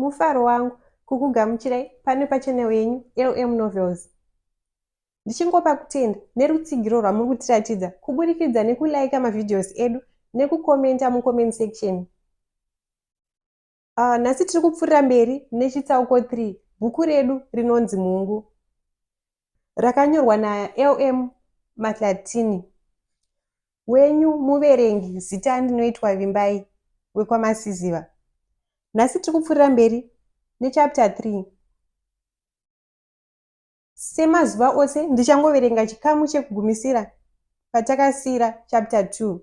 mufaro wangu kukugamuchirai pano pachanel yenyu lm novels ndichingopa kutenda nerutsigiro rwamuri kutiratidza kuburikidza nekulaika mavhidhios edu nekukomenta mucomment section Uh, nhasi tiri kupfuurira mberi nechitsauko 3 bhuku redu rinonzi mhungu rakanyorwa nalm matlatini wenyu muverengi zita ndinoitwa vimbai wekwamasiziva nhasi tiri kupfuurira mberi nechapta 3 semazuva ose ndichangoverenga chikamu chekugumisira patakasiyira chapta 2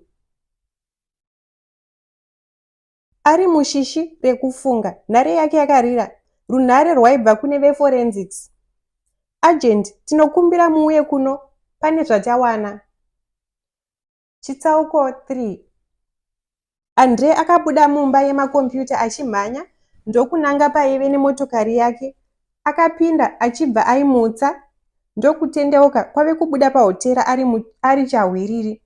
Ari mushishi rekufunga, nhare yake yakarira runhare rwaibva kune veForensics. Agent, tinokumbira muuye kuno pane zvatawana. Chitsauko 3 Andre akabuda mumba yemakombiyuta achimhanya ndokunanga paive nemotokari yake. Akapinda achibva aimutsa ndokutendeuka kwave kubuda pahotera ari, mu, ari chahwiriri.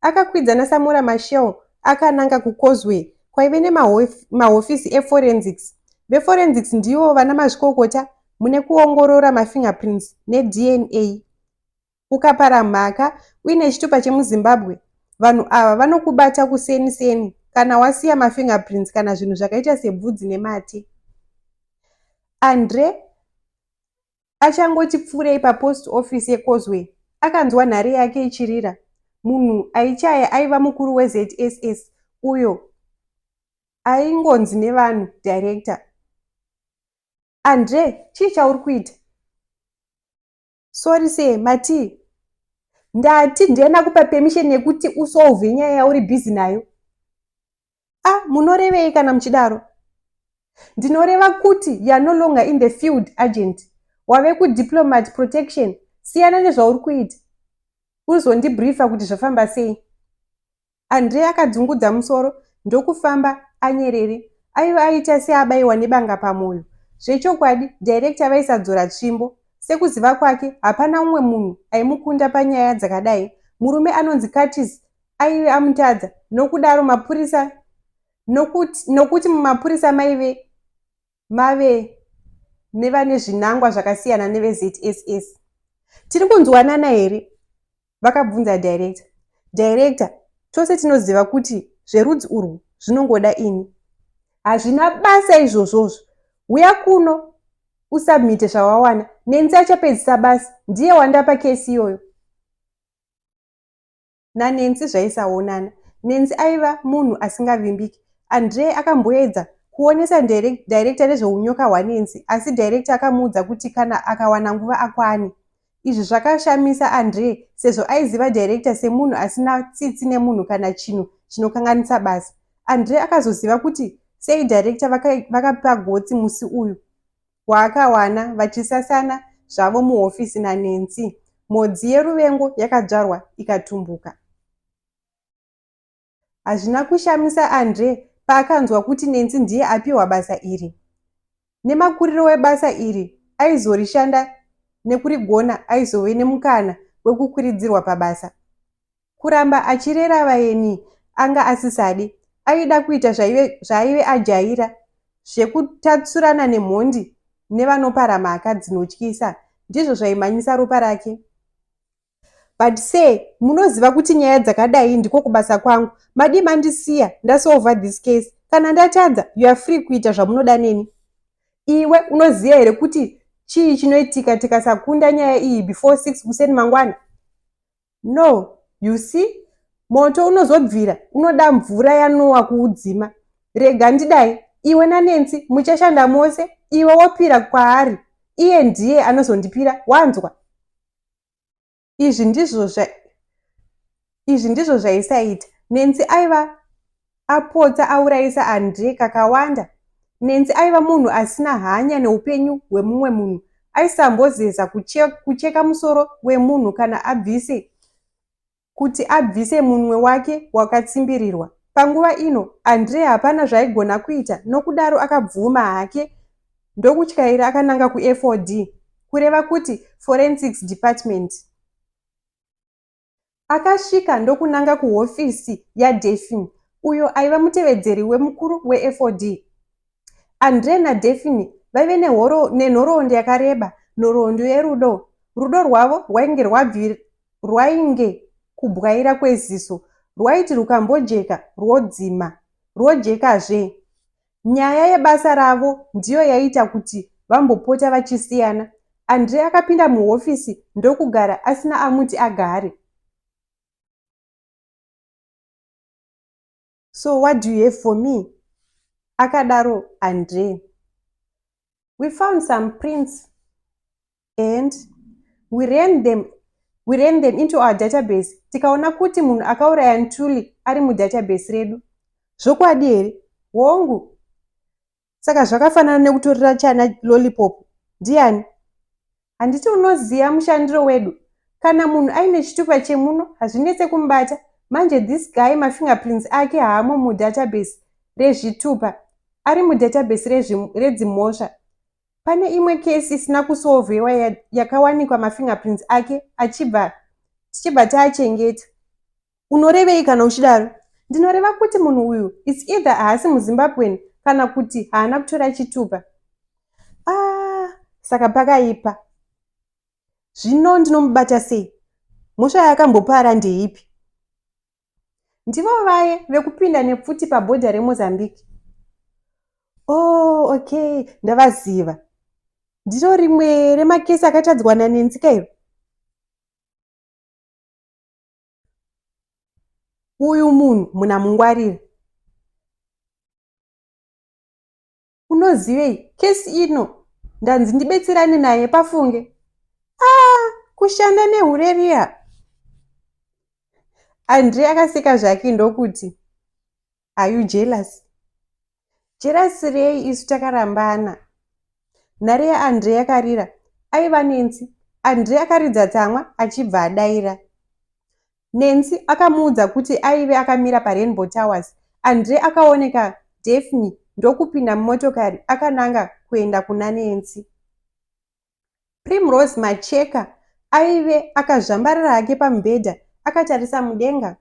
Akakwidza naSamora Machel akananga kuCauseway kwaive nemahofisi eForensics. VeForensics ndivo vana mazvikokota mune kuongorora mafingerprints neDNA. Ukapara mhaka uine chitupa chemuZimbabwe, vanhu ava vanokubata kuseni seni kana wasiya mafingerprints kana zvinhu zvakaita sebvudzi nemate. Andre Achangoti pfuurei papost office yeCauseway, akanzwa nhare yake ichirira. Munhu aichaya aiva mukuru weZSS uyo aingonzi nevanhu director. Andre, chii chauri kuita? Sorry sir, matii? Ndati ndena kupa permission yekuti usolve nyaya yauri busy nayo. a ah, munorevei kana muchidaro ndinoreva kuti youare no longer in the field agent wave kudiplomat protection siyana nezvauri kuita uzondibriefa kuti zvafamba sei andre akadzungudza musoro ndokufamba anyerere aiva aita seabaiwa nebanga pamwoyo zvechokwadi director vaisadzora tsvimbo sekuziva kwake hapana umwe munhu aimukunda panyaya dzakadai murume anonzi curtis aive amutadza nokudaro mapurisa nokuti, nokuti mumapurisa maive mave nevane zvinangwa zvakasiyana nevezss tiri kunzwanana here vakabvunza director director tose tinoziva kuti zverudzi urwu zvinongoda ini hazvina basa izvozvozvo huya kuno usubmite zvawawana nenzi achapedzisa basa ndiye wandapa kesi iyoyo naNancy zvaisaonana. Nancy aiva munhu asingavimbiki. Andree akamboedza kuonesa director nezveunyoka hwaNancy asi director akamuudza kuti kana akawana nguva akwane. Izvi zvakashamisa Andree sezvo aiziva director semunhu asina tsitsi nemunhu kana chinhu chinokanganisa basa. Andree akazoziva kuti sei director vakapa gotsi musi uyu. waakawana vachisasana zvavo muhofisi naNancy, mhodzi yeruvengo yakadzvarwa ikatumbuka. Hazvina kushamisa Andre paakanzwa kuti Nancy ndiye apiwa basa iri. Nemakuriro webasa iri aizorishanda nekurigona aizove nemukana wekukwiridzirwa pabasa. kuramba achirera vaeni anga asisadi aida kuita zvaive, zvaive ajaira zvekutatsurana nemhondi nevanopara mhaka dzinotyisa ndizvo zvaimhanyisa ropa rake but se munoziva kuti nyaya dzakadai ndiko kubasa kwangu madii mandisiya ndasolva this case kana ndatadza you are free kuita zvamunoda neni iwe unoziva here kuti chii chinoitika tikasakunda nyaya iyi before six kuseni mangwana No, you see, moto unozobvira unoda mvura yanowa kuudzima. Rega ndidai, iwe naNancy muchashanda mose, iwe wopira kwaari, iye ndiye anozondipira, wanzwa? Izvi ndizvo zva, izvi ndizvo zvaisaita. Nancy aiva apotsa aurayisa Andre kakawanda. Nancy aiva munhu asina hanya neupenyu hwemumwe munhu. Aisambozeza kucheka musoro wemunhu kana abvise kuti abvise munwe wake wakatsimbirirwa. Panguva ino, Andre hapana zvaigona kuita nokudaro akabvuma hake ndokutyaira akananga kuFOD, kureva kuti Forensics Department. Akasvika ndokunanga kuhofisi yaDaphne, uyo aiva mutevedzeri wemukuru weFOD. Andre naDaphne vaive nenhoroondo yakareba, nhoroondo yerudo. Rudo rwavo rwainge rwabvi rwainge kubwaira kweziso, rwaiti rukambojeka rwodzima, rwojekazve. Nyaya yebasa ravo ndiyo yaiita kuti vambopota vachisiyana. Andre akapinda muhofisi ndokugara asina amuti agare. So what do you have for me? akadaro Andre. We found some prints and we ran them we ran them into our database tikaona kuti munhu akauraya ntuli ari mudatabase redu zvokwadi here hongu saka zvakafanana nekutorera chana lollipop ndiani handiti unoziva mushandiro wedu kana munhu aine chitupa chemuno hazvinetse kumubata manje this guy mafingerprints ake haamo mudatabase rezvitupa ari mudatabase redzimhosva Pane imwe case isina kusolvewa yakawanikwa mafingerprints ake achibva tichibva taachengeta. Unorevei kana uchidaro? Ndinoreva kuti munhu uyu it's either haasi muZimbabwean kana kuti haana kutora chitupa. Ah, saka pakaipa. Zvino ndinomubata sei? Mhosva yaakambopara ndeipi? ndivo vaye vekupinda nepfuti pabhodha remozambique oh okay ndavaziva ndiro rimwe remakesi akatadzwa nanenzika iro uyu munhu munamungwarire unozivei kesi ino ndanzi ndibetserane naye pafunge a ah, kushanda nehure riya andre akaseka zvake ndokuti are you jealous jealous rei isu takarambana nhare yaandre yakarira aiva nensi andre akaridza tsamwa achibva adaira Nancy akamuudza kuti aive akamira paRainbow Towers. Andre akaoneka Daphne ndokupinda mumotokari akananga kuenda kuna Nancy. Primrose Macheka aive akazvambarara hake pamubhedha akatarisa mudenga.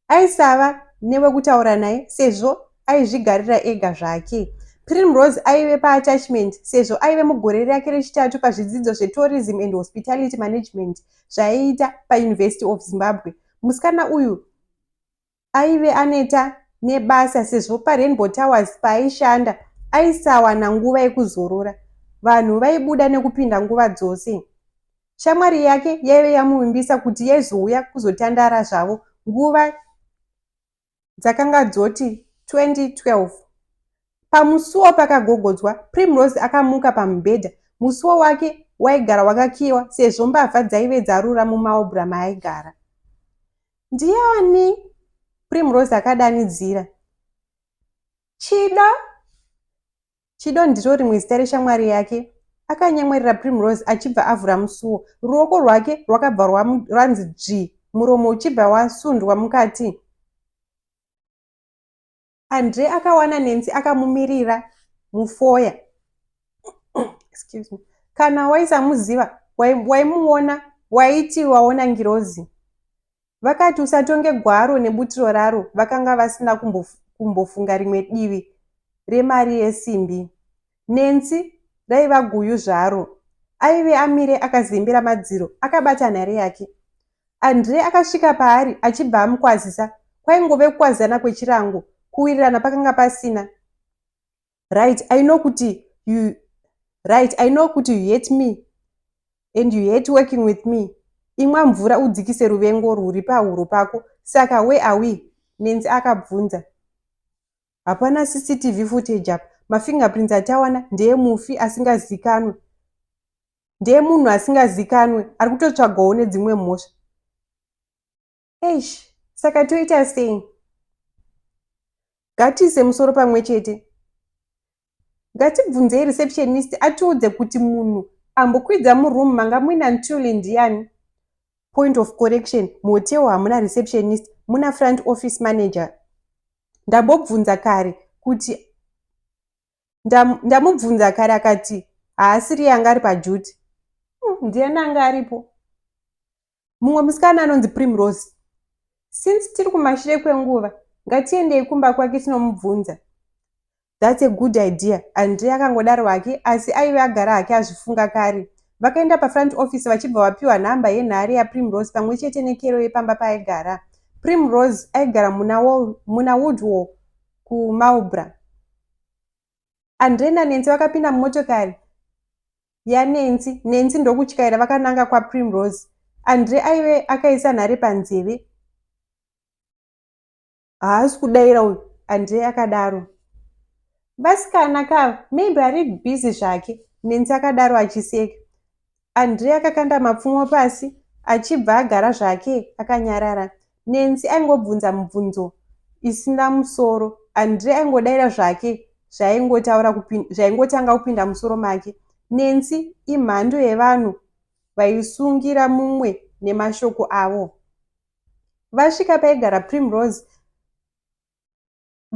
Aisava newekutaura naye sezvo aizvigarira ega zvake. Primrose aive paattachment sezvo aive mugore rake rechitatu pazvidzidzo zvetourism and hospitality management zvaiita paUniversity of Zimbabwe. Musikana uyu aive aneta nebasa sezvo paRainbow Towers paaishanda aisawana nguva yekuzorora. Vanhu vaibuda nekupinda nguva dzose. Shamwari yake yaive yamuvimbisa kuti yaizouya kuzotandara zvavo nguva dzakanga dzoti 2012. Pamusuwo pakagogodzwa, Primrose akamuka pamubhedha. Musuwo wake waigara wakakiiwa sezvo mbavha dzaive dzarura mumaobra maaigara. Ndiani? Primrose akadanidzira. Chida? Chido ndiro rimwe zita reshamwari yake. Akanyemwerera Primrose achibva avhura musuwo. Ruoko rwake rwakabva rwanzi dzvi, muromo uchibva wasundwa mukati. Andre akawana Nancy akamumirira mufoya. Excuse me. Kana waisamuziva, waimuona, waiti waona ngirozi. Vakati, Usatonge gwaro nebutiro raro, vakanga vasina kumbof- kumbofunga rimwe divi remari yesimbi. Nancy raiva guyu zvaro. Aive amire akazembera madziro, akabata nhare yake. Andre akasvika paari achibva amukwazisa. Kwaingove kukwazisana kwechirango, kuwirirana pakanga pasina. right i know kuti you right i know kuti you hate me and you hate working with me imwa mvura udzikise ruvengo rwuri pahuro pako saka we awe nenzi akabvunza hapana cctv footage apa mafingerprints atawana ndeye mufi asingazikanwe ndeye munhu asingazikanwe ari kutotsvagawo nedzimwe mhosva eish saka toita sei ngatiise musoro pamwe chete ngatibvunzei receptionist atiudze kuti munhu ambokwidza muroom manga muina ntuli ndiyani point of correction muhotel hamuna receptionist muna front office manager ndambobvunza kare kuti ndamubvunza nda kare akati haasiri yanga ari pajuti hmm, ndiyani anga aripo mumwe musikana anonzi primrose since tiri kumashure kwenguva ngatiendei kumba kwake tinomubvunza thats a good idea andre akangodaro hake asi aive agara hake azvifunga kare vakaenda pafront office vachibva vapiwa nhamba yenhare yaprimrose pamwe chete nekero yepamba paaigara primrose aigara muna woodwall kumalbra Andre naNensi vakapinda mumotokari yaNensi, Nensi ndokutyaira vakananga kwaPrimrose. Andre aive akaisa nhare panzeve. Haasi kudaira uyu, Andre akadaro. Vasikana kava, maybe ari busy zvake, Nensi akadaro achiseka. Andre akakanda mapfumo pasi achibva agara zvake akanyarara. Nancy aingobvunza mubvunzo isina musoro. Andre aingodaira zvake zvaingotaura zvaingotanga kupinda musoro make. Nancy imhando yevanhu vaisungira mumwe nemashoko avo. Vasvika paigara Primrose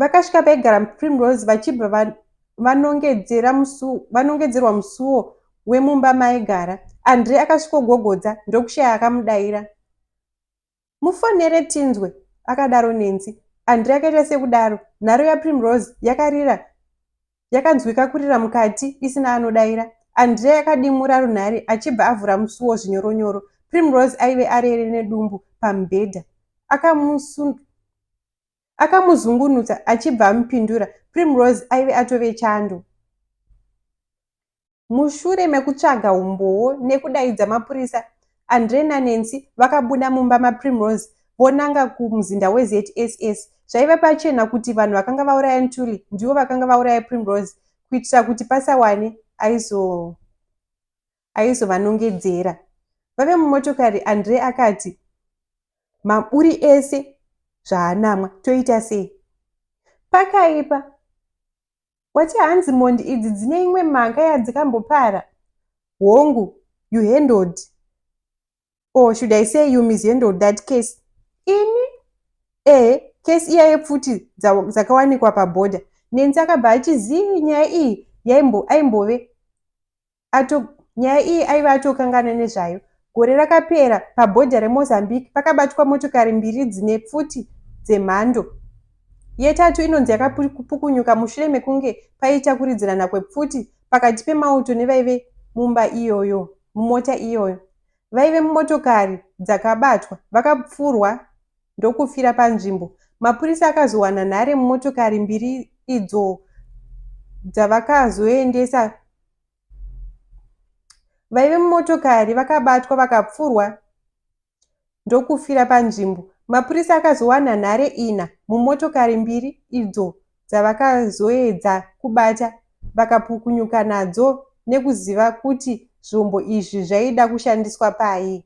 Vakasvika paigara Primrose vachibva vanongedzera musuo vanongedzerwa musuo wemumba maigara andre akasvikogogodza ndokushaya akamudaira mufonere tinzwe akadaro nenzi andre akaita sekudaro nharo yaprimrose yakarira yakanzwika kurira mukati isina anodaira andre akadimura runhare achibva avhura musuo zvinyoronyoro primrose aive arere nedumbu pamubhedha akamusundu akamuzungunutsa achibva amupindura primrose aive atove chando mushure mekutsvaga umbowo nekudaidza mapurisa andre nanancy vakabuda mumba maprimrose vonanga kumuzinda wezss zvaiva pachena kuti vanhu vakanga vauraya ntuli ndivo vakanga vauraya primrose kuitira kuti pasawane aizo aizovanongedzera. Vave mumotokari, Andre akati, Maburi ese zvaanamwa, toita sei? Pakaipa. Wati hanzi mondi idzi dzine imwe mhanga yadzikambopara? Hongu, you handled. Or oh, should I say you mishandled that case? Ini? Eh, case iya yepfuti dzakawanikwa paborder. Nenzi akabva achizii nyaya iyi yaimbove ato nyaya iyi aive atokangana nezvayo gore rakapera pabhodha remozambique pakabatwa motokari mbiri dzine pfuti dzemhando yetatu inonzi yakapukunyuka mushure mekunge paita kuridzirana kwepfuti pakati pemauto nevaive mumba iyoyo mumota iyoyo vaive mumotokari dzakabatwa vakapfurwa ndokufira panzvimbo. Mapurisa akazowana nhare mumotokari mbiri idzo dzavakazoendesa vaive mumotokari vakabatwa vakapfurwa ndokufira panzvimbo. Mapurisa akazowana nhare ina mumotokari mbiri idzo dzavakazoedza kubata vakapukunyuka nadzo nekuziva kuti zvombo izvi zvaida kushandiswa pai.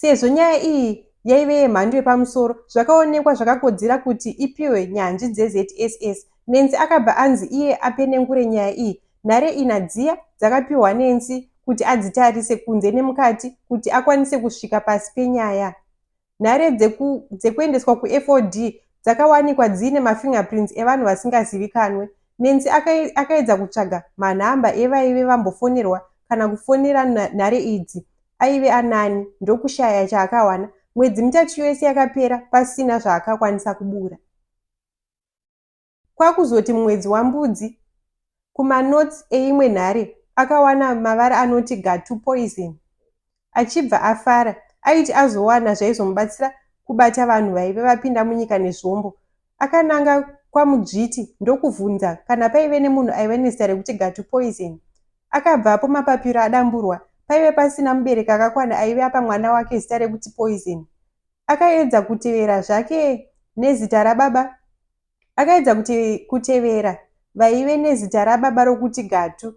Sezvo nyaya iyi yaive yemhando yepamusoro, zvakaonekwa zvakakodzera kuti ipihwe nyanzvi dzeZSS. Nancy akabva anzi iye apenengure nyaya iyi. Nhare ina dziya dzakapihwa Nancy kuti adzitarise kunze nemukati kuti akwanise kusvika pasi penyaya. Nhare dzeku, dzekuendeswa kuFOD dzakawanikwa dziine mafingerprints evanhu vasingazivikanwe. Nancy akai, akaedza kutsvaga manhamba evaive vambofonerwa kana kufonera nhare idzi aive anani ndokushaya chaakawana mwedzi mitatu yose yakapera pasina zvaakakwanisa kubura kwakuzoti mumwedzi wambudzi kumanotes eimwe nhare akawana mavara anoti gatu poison achibva afara aiti azowana zvaizomubatsira kubata vanhu vaive vapinda munyika nezvombo akananga kwamudzviti ndokuvhunza kana paive nemunhu aive nezita rekuti gatu poison Akabvapo mapapiro adamburwa, paive pasina mubereki akakwana aive apa mwana wake zita rekuti Poison. Akaedza kutevera zvake nezita rababa akaedza kute, kutevera vaive nezita rababa rokuti Gatu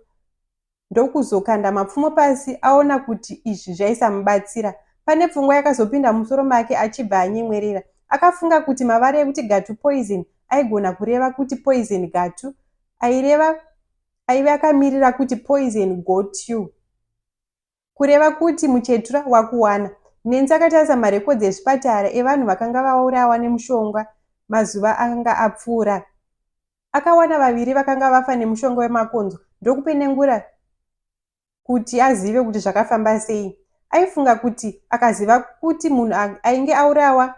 ndokuzokanda mapfumo pasi aona kuti izvi zvaisamubatsira. Pane pfungwa yakazopinda mumusoro make achibva anyemwerera. Akafunga kuti mavara ekuti Gatu Poison aigona kureva kuti Poison Gatu aireva aive akamirira kuti poison got you kureva kuti muchetura wakuwana nenzi akatarisa marekodzi ezvipatara evanhu vakanga vaurawa nemushonga mazuva akanga apfuura akawana vaviri vakanga vafa nemushonga wemakonzo ndokupenengura kuti azive kuti zvakafamba sei aifunga kuti akaziva kuti munhu ainge aurawa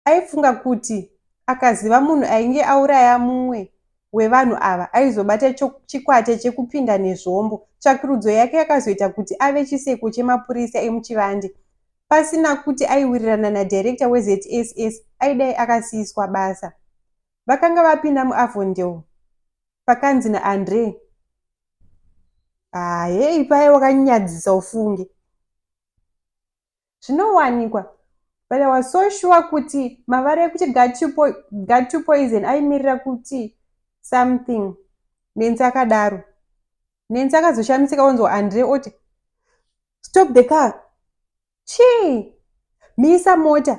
aifunga kuti akaziva munhu ainge auraya mumwe wevanhu ava aizobata chikwata chekupinda nezvombo tsvakirudzo yake yakazoita kuti ave chiseko chemapurisa emuchivande pasina kuti aiwirirana nadirector wezss aidai akasiiswa basa vakanga vapinda muavondel pakanzi naandre haye ah, ipaye wakanyadzisa ufunge zvinowanikwa but i was so sure kuti mavara ekuti gat to poison aimirira kuti something nenzi akadaro nenzi akazoshamisika onzwa andre oti stop the car chii misa mota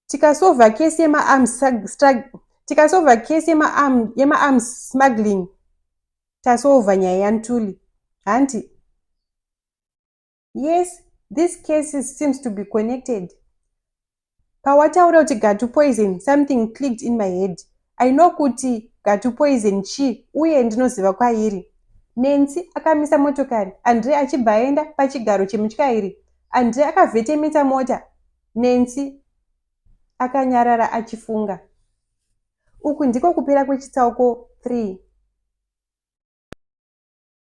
tikasova kesi yemaarms tikasova kesi yemaarms smuggling tasova nyaya yantuli hanti Yes, these cases seems to be connected. Pawataura kuti gatu poison, something clicked in my head. I know kuti gatu poison chii uye ndinoziva kwairi. Nancy akamisa motokari, Andre achibva aenda pachigaro chemutyairi. Andre akavhetemetsa mota. Nancy akanyarara achifunga. Uku ndiko kupera kwechitsauko 3.